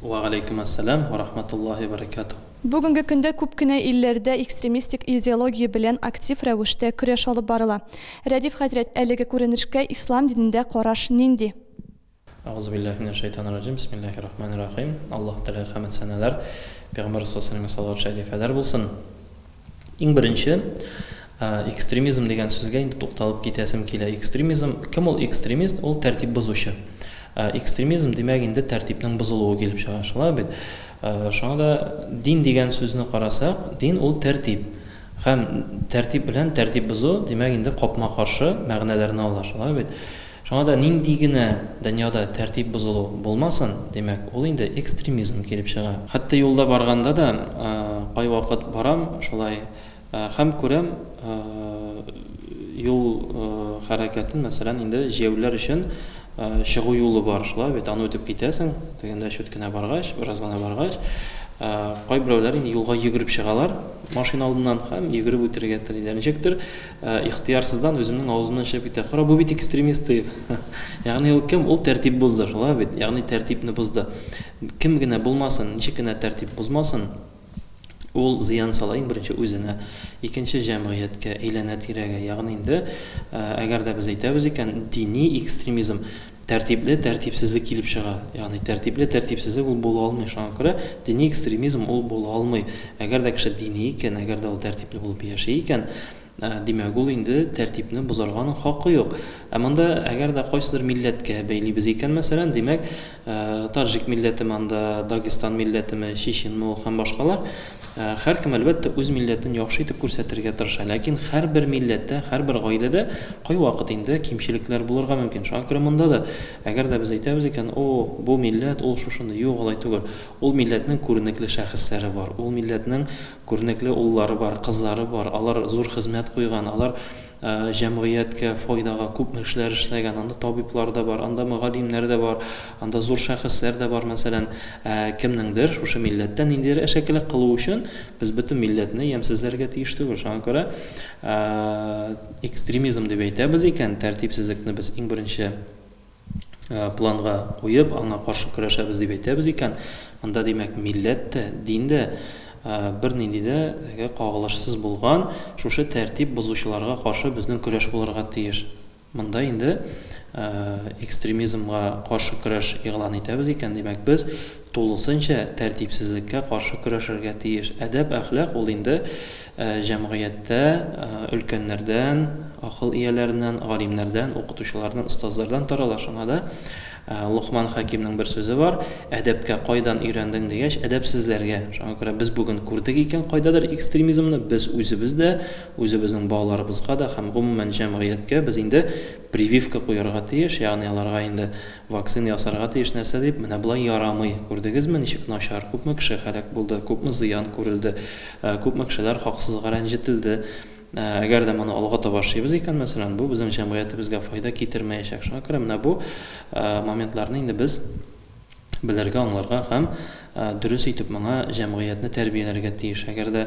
Вә галәйкүм әссәлам вә рахматуллаһи вә бәрәкәтүһ. Бүгенге көндә күп кенә илләрдә экстремистик идеология белән актив рәвештә көрәш алып барыла. Рәдиф хәзрәт, әлеге күренешкә ислам динендә караш нинди? Әгъузубиллаһи минәш шәйтанир раҗим, бисмиллаһир рахманир рахим. Аллаһ теләге хәмед сәнәләр Пәйгамбәр рәсул сәлләмгә салават шәрифәләр булсын. Иң беренче, экстремизм дигән сүзгә инде тукталып китәсем килә. Экстремизм, кем ул экстремист? Ул тәртип бозучы. Экстремизм димәк инде тәртипнең бозылуы килеп чыга, шулай бит? Шуңа да дин дигән сүзне карасак, дин ул тәртип. Һәм тәртип белән тәртип бозу, димәк инде капма-каршы мәгънәләрне ала, шулай бит? Шуңа да нинди генә дөньяда тәртип бозылу булмасын, димәк, ул инде экстремизм килеп чыга. Хәтта юлда барганда да, кайвакыт барам шулай һәм күрәм, юл хәрәкәтен, мәсәлән, инде җәяүлеләр өчен чыгу юлы бар, шулай бит, аны үтеп китәсең, тегендә чүт кенә баргач, бераз гына баргач, кайберәүләр инде юлга йөгереп чыгалар машина алдыннан һәм йөгереп үтәргә телиләр. Ничектер. Ихтыярсыздан үземнең авызымнан чыгып китә, Кара, бу бит экстремист, дип. Ягъни ул кем? Ул тәртип бозды, шулай бит? Ягъни тәртипне бозды. Кем генә булмасын, ничек кенә тәртип бозмасын, ул зыян сала, иң беренче, үзенә, икенче, җәмгыятькә, әйләнә-тирәгә. Ягъни инде, әгәр дә без әйтәбез икән, дини экстремизм, Тәртипле тәртипсезлек килеп чыга. Ягъни тәртипле тәртипсезлек ул була алмый. Шуңа күрә дини экстремизм ул була алмый. Әгәр дә кеше дини икән, әгәр дә ул тәртипле булып яши икән, димәк, ул инде тәртипне бозарга аның хакы юк. Ә монда әгәр дә кайсыдыр милләткә бәйлибез икән, мәсәлән, димәк, таҗик милләтеме анда, дагестан милләтеме, чеченме ул һәм башкалар, Һәркем, әлбәттә, үз милләтен яхшы итеп күрсәтергә тырыша, ләкин һәрбер милләттә, һәрбер гаиләдә кайвакыт инде кимчелекләр булырга мөмкин. Шуңа күрә монда да, әгәр дә без әйтәбез икән, О, бу милләт, ул шушындый. Юк, алай түгел. Ул милләтнең күренекле шәхесләре бар, ул милләтнең күренекле уллары бар, кызлары бар, алар зур хезмәт куйган, алар Җәмгыятькә файдага күпме эшләр эшләгән. Анда табиблар да бар, анда мөгаллимнәр дә бар, анда зур шәхесләр дә бар, мәсәлән. Ә кемнеңдер шушы милләттә ниндидер әшәкелек кылу өчен без бөтен милләтне ямьсезләргә тиеш түгел. Шуңа күрә экстремизм дип әйтәбез икән, тәртипсезлекне без иң беренче планга куеп, аңа каршы көрәшәбез дип әйтәбез икән, анда, димәк, милләт тә, дин дә бернинди дә теге кагылышсыз булган, шушы тәртип бозучыларга каршы безнең көрәш булырга тиеш. Монда инде экстремизмга каршы көрәш игълан итәбез икән, димәк, без тулысынча тәртипсезлеккә каршы көрәшергә тиеш. Әдәп-әхлак ул инде Җәмгыятьтә өлкәннәрдән, акыл ияләреннән, галимнәрдән, укытучылардан, остазлардан тарала. Шуңа да Локман хәкимнең бер сүзе бар, Әдәпкә кайдан өйрәндең дигәч, әдәпсезләргә. Шуңа күрә без бүген күрдек икән кайдадыр экстремизмны, без үзебез дә, үзебезнең балаларыбызга да һәм гомумән җәмгыятькә без инде прививка куярга тиеш, ягъни аларга инде Вакцина ясарга тиеш нәрсә дип, менә болай ярамый. Күрдегезме, ничек начар, күпме кеше һәлак булды, күпме зыян күрелде, күпме кешеләр хаксызга рәнҗетелде. Әгәр дә моны алга таба шыйбыз икән, мәсәлән, бу безнең җәмгыятебезгә файда китермәячәк. Шуңа күрә менә бу моментларны инде без белергә, аңларга һәм дөрес итеп моңа җәмгыятьне тәрбияләргә тиеш. Әгәр дә